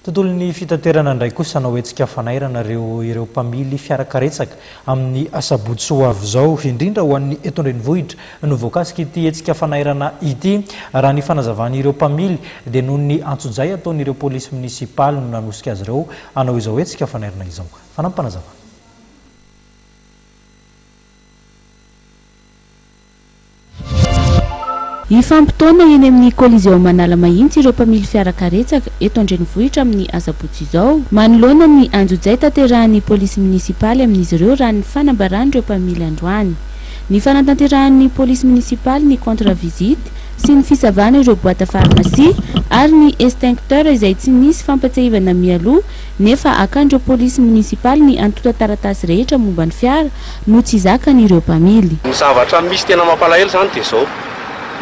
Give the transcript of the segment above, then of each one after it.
Tontolon'ny fitaterana indray kosa hanao hetsika fanairana ireo ireo mpamily fiarakaretsaka amin'ny asabotsy ho avy izao, indrindra ho an'ny eto an-drenivohitra no voakasik'ity hetsika fanairana ity. Raha ny fanazavan'ireo mpamily dia noho ny antsojay ataon'ireo polisy minisipaly no nanosika azy ireo hanao izao hetsika fanairana izao. Fanampim-panazavana. Hifampitaona eny amin'ny Coliseum Analamahitsy ireo mpamily fiara karetsaka eto an-drenivohitra amin'ny asabotsy izao, manoloana ny anjojay tanterahan'ny polisy minisipaly amin'izy ireo raha ny fanambaran'ireo mpamily androany. Ny fanatanterahan'ny polisy minisipaly ny contre visite sy ny fisavana ireo boite à pharmacie ary ny extincteur izay tsy nisy fampatsiahivana mialoha nefa akan'ireo polisy monisipaly ny antontan-taratasy rehetra momba ny fiara no tsy zakan'ireo mpamily. Ny zavatra misy tena mampalahelo izany dia izao,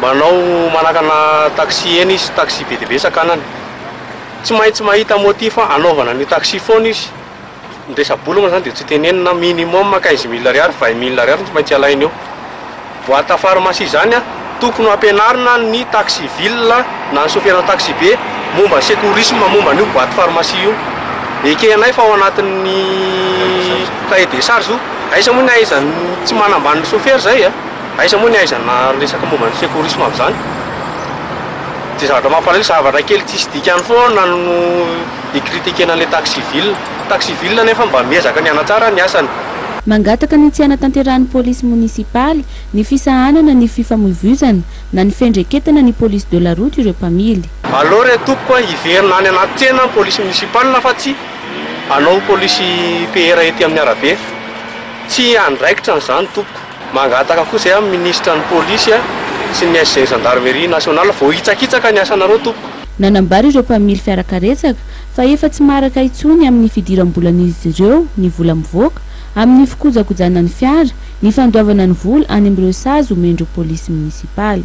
manao manakana taxi eny izy, taxi be dia be sakanany, tsy maintsy mahita motif hanaovana an'io taxi foana izy, ny resa-bola moa izany dia tsy tenenina, minimum quinze mille ariary, vingt mille ariary no tsy maintsy alainy eo. Boite à pharmacie zany a, tokony hampianarina ny taxi ville na ny soferana taxi be momba secourisme momba an'io boite pharmacie io, ekehanay fa ao anatin'ny cahier des charges io, aiza moa ny ahaizan'ny tsy manambany ny sofera zay a, aiza moa ny ahaizana resaka momba ny secourisme amin'izany, de zavatra mampalahelo zavatra kely tsisy dikany foana no hi-critiquena an'ilay taxi ville. Contact Civil anefa mba miezaka ny hanatsara ny asany. Mangataka ny tsy hanatanterahan'ny polisy monisipaly ny fisahanana ny fifamoivoizana na ny fiendreketana ny police de la route ireo mpamily. Aleo re tompoko a, hiverina any anaty tsena ny polisy monisipaly fa tsy hanao polisy PR ety amin'ny arabe. Tsy andraikitra ny zany tompoko. Mangataka koa izay amin'ny minisitra ny polisy sy ny SG Gendarmerie nationale vao hitsakitsaka ny asanareo tompoko. Nanambara ireo mpamily fiarakaretsaka fa efa tsy maharaka intsony amin'ny fidiram-bolan'izy ireo ny vola mivoaka amin'ny fikojakojana ny fiara, ny fandoavana ny vola any amin'ireo sazy omen'ireo polisy monisipaly.